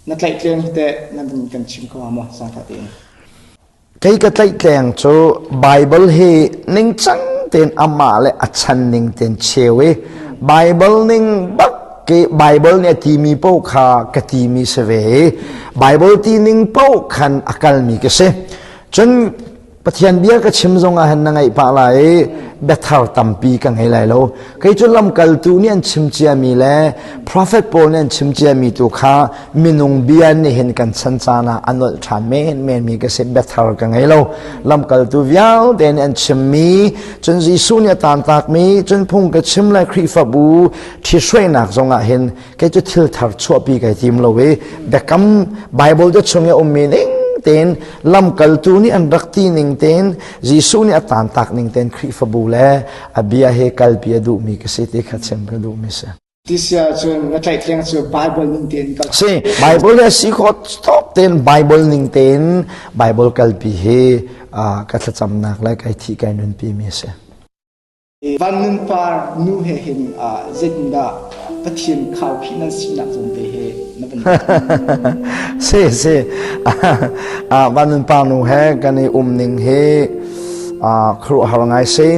Na tlaihtleng teh nan in kan chim kho hnga maw sangṭha tein? Kei ka tlaihtleng cu Baibal hi ningcang tein amah le a chan ning tein cheu i Baibal ning bak ke Baibal nih a timi paoh kha ka timi si ve i Baibal ti ning paoh khan a kalmi ka si. Cun Pathian bia ka chim zong ah hin na ngaih pah lai i biathar tampi ka ngei lai lo. Kei cu lamkaltu nih an chim ciami le profet pawl nih an chim ciami tu kha minung bia nih hin kan chan caan ah a nolh ṭhan menmen mi ka si biathar ka ngei lo. Lamkaltu vialte nih an chimmi cun Jesuh nih a tantakmi cun phung ka chim le Khrihfabu ṭhithruainak zong ah hin kei cu thil thar chuahpi kai tim lo i biakam Bible te chung i ummi ning tein lamkaltu nih an rak ti ning tein Jesuh nih a tantak ning tein Khrihfabu le a bia he kalpi a duhmi ka si ti kha chim ka duhmi si. Tisia cu na tlaitliang cu Bible ning tein kal. Si Bible le si kho top tein Bible ning tein Bible kalpi hi ka thlacamnak le kai thi kai nunpi mi si. Van Nun Par nu he hin ah zeitindah Pathian khaukhih nan si nak zawn te he na kan si si ah Van Nun Par nu he kan i um ning hi khruh har ngai si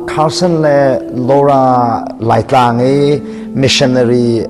Carson le Laura Laitlang i missionary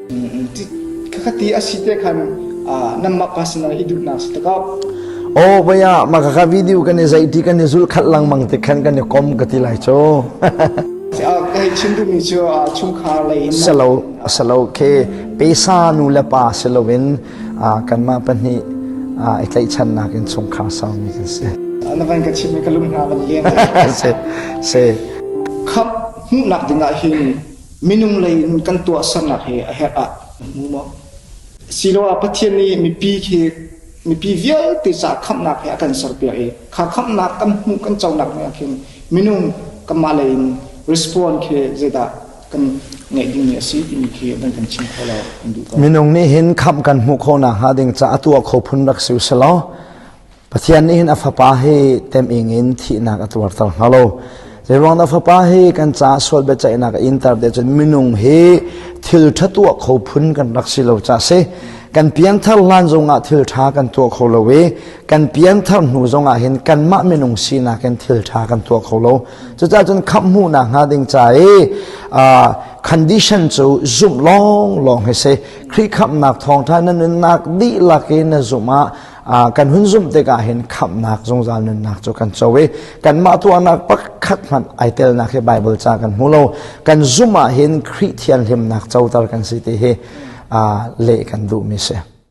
Kakati asi te khan nanmah personal hi duhnak si takap. Oh baya maka ka video kan i zai ti kan i zul khat langmang te khan kan i kom ka ti lai cho. Kai chin du mi chu chung khar lei salo salo ke pesa nu le pa siloin kanma pahnih i tlai chan nak in chung khar sau mi kan si. Na van ka chim ka lum na van liang se se khap mu nak dingah hin minung lei in kan tuahsernak hi a herh ah na hmu maw? Siloah Pathian nih mipi khi mipi vialte ca khamhnak he a kan serpiak i kha khamhnak kan hmuh kan conak nih ah khin minung kanmah lei in respond khi zeidah kan ngeih dingmi a si timi khi nan kan chim kho lo kan duh ko. Minung nih hin khamh kan hmuh khawh nakhnga ding caah a tuah kho phun rak si usih law Pathian nih hin a fapa hi teming in thihnak a tuarter hna lo. Zeiruang na fapa hi kan caah sual biaceihnak a inter te cun minung hi thil ṭha tuah kho phun kan rak si lo ca si. Kan pianthar hlan zongah thil ṭha kan tuah kho lo i kan pianthar hnu zongah hin kanmah minung sinak in thil ṭha kan tuah kho lo. Cucaah cun khamh hmuhnak hnga ding ca i uh, condition cu zumh lawnglawng hi si. Khrih khamhnak thawngṭha na nunnak dihlak i na zumh ah kan hun zumh tikah hin khamhnak zungzal nunnak cu kan co i kanmah tuahnak pakhat hmanh ai telnak hi Baibal ca kan hmu lo kan zumh ah hin Khrih thianhlimnak coter kan si ti hi leh kan duhmi si.